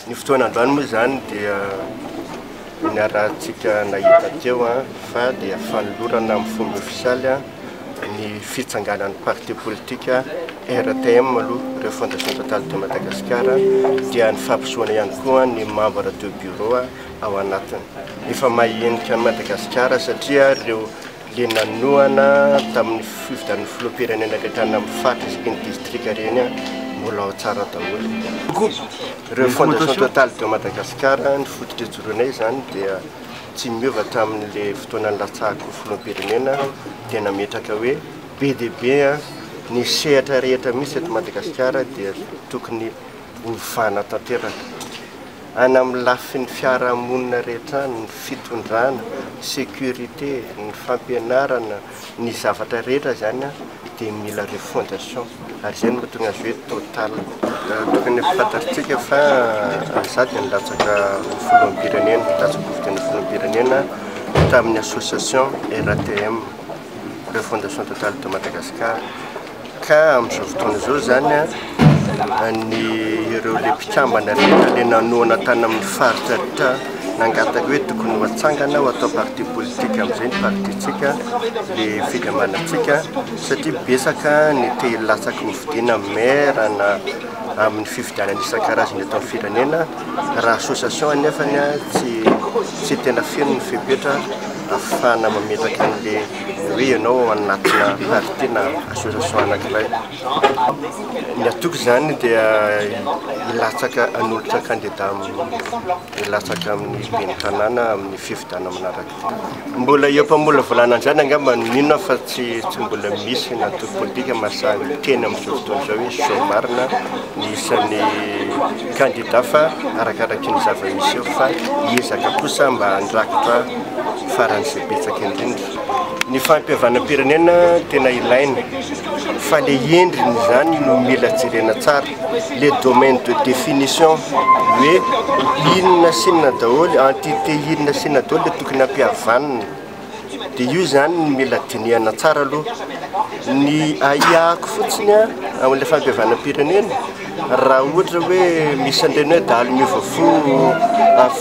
Ny fotoana androany moa izany dia niarahantsika nahita teo fa dia fanolorana amin'ny fomba ofisialy ny fitsanganan'ny parti politika RTM aloha, Refondation Totale de Madagascar, dia ny fampisoana ihany koa ny membre de bureau ao anatiny. Efa mahenika an'i Madagasikara satria ireo le nanohana tamin'ny fifidianana filoham-pirenena rehetra any amin'ny faritra sy ny distrika ireny mbola ao tsara daholo. Koa reo fondation totale de Madagascar ny fototra ijoroanay izany dia tsy miova tamin'le fotoana nilatsahako ho filoham-pirenena dia nametraka hoe be dia be ny sehatra rehetra misy eto Madagasikara dia tokony Ovana tanteraka, any amin'ny lafiny fiarahamonina rehetra any, ny fitondrana, sécurité, ny fampianarana, ny zavatra rehetra izany dia mila refondation ary izay no mahatonga azy hoe Total. Tokony ho fantatritsika fa izaho dia nilatsaka ho filoham-pirenena, nilatsaka ho fidiana ho filoham-pirenena tamin'ny association RATM, Refondation Total de Madagascar. Ka amin'izao fotoana izao izany ny ireo ilay mpikambana rehetra ilay nanohana tany amin'ny faritra rehetra nangataka hoe tokony ho atsangana ho atao parti politique amin'izay ny partintsika ilay fikambanantsika satria betsaka ny te hilatsaka ho fidiana maire na amin'ny fifidianana isan-karazany eto amin'ny firenena raha association anefany tsy tsy tena feno ny fepetra ahafahana mametraka an'ilay hoe ianao ao anatina parti na association anankiray. Ny antoko izany dia hilatsaka hanolotra kandida hilatsaka amin'ny ben'ny tanàna amin'ny fifidianana manaraka. Mbola eo am-pamolavolana an'izany angamba no mino aho fa tsy tsy mbola misy ny antoko politika mahasahy miteny amin'izao fotoana izao hoe izao marina ny isan'ny kandida fa arakaraky ny zava-misy eo fa hiezaka kosa mba handrakitra faran'izay betsaka indrindra. Ny fahampihavanam-pirenena tena ilaina fa le endriny izany no mila jerena tsara, le domaine de définition hoe inona sy inona daholo, entité inona sy inona daholo le tokony hampihavanina. dia io izany no mila dinihana tsara aloha. Ny ahiahiko fotsiny an, amin'ilay fandevanam-pirenena, raha ohatra hoe misy an'ireny hoe dahalo miova fo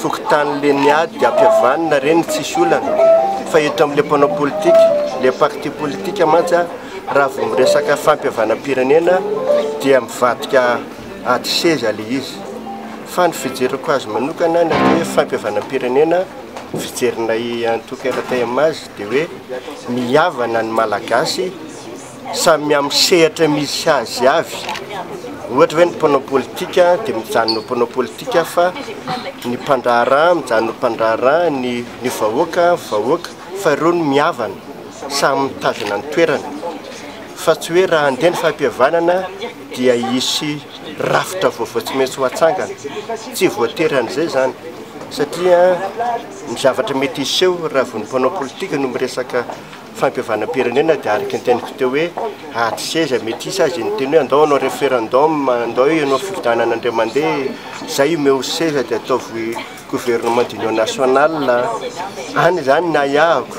fokontany ireny ady hampihavanina ireny tsisy olana, fa eto amin'ilay mpanao politika, ilay parti politika mantsy an, raha vao miresaka fampihavanam-pirenena dia mivadika ady seza ilay izy. Fa ny fijeriko azy manokana ny atao hoe fampihavanam-pirenena. ny fijerinay antoko RTMH dia hoe ny havana ny Malagasy samy amin'ny sehatra misy azy avy, ohatra hoe ny mpanao politika dia mijanona ho mpanao politika fa ny mpandraharaha mijanona ho mpandraharaha, ny vahoaka vahoaka fa ireo no mihavana samy mitazona ny toerany fa tsy hoe raha handeha ny fahapihavanana dia hisy rafitra vaovao tsy maintsy ho atsangana. Tsy voatery an'izay izany, satria ny zavatra mety hiseho raha vao ny mpanao politika no miresaka fampihavanam-pirenena dia araka ny teniko teo hoe ady seza mety hisy azy ny teny hoe andao hanao referendum, andao ianao fifidianana indray mandeha, izay omeo seza dia ataovy gouvernement d'union nationale, any izany ny ahiahiko.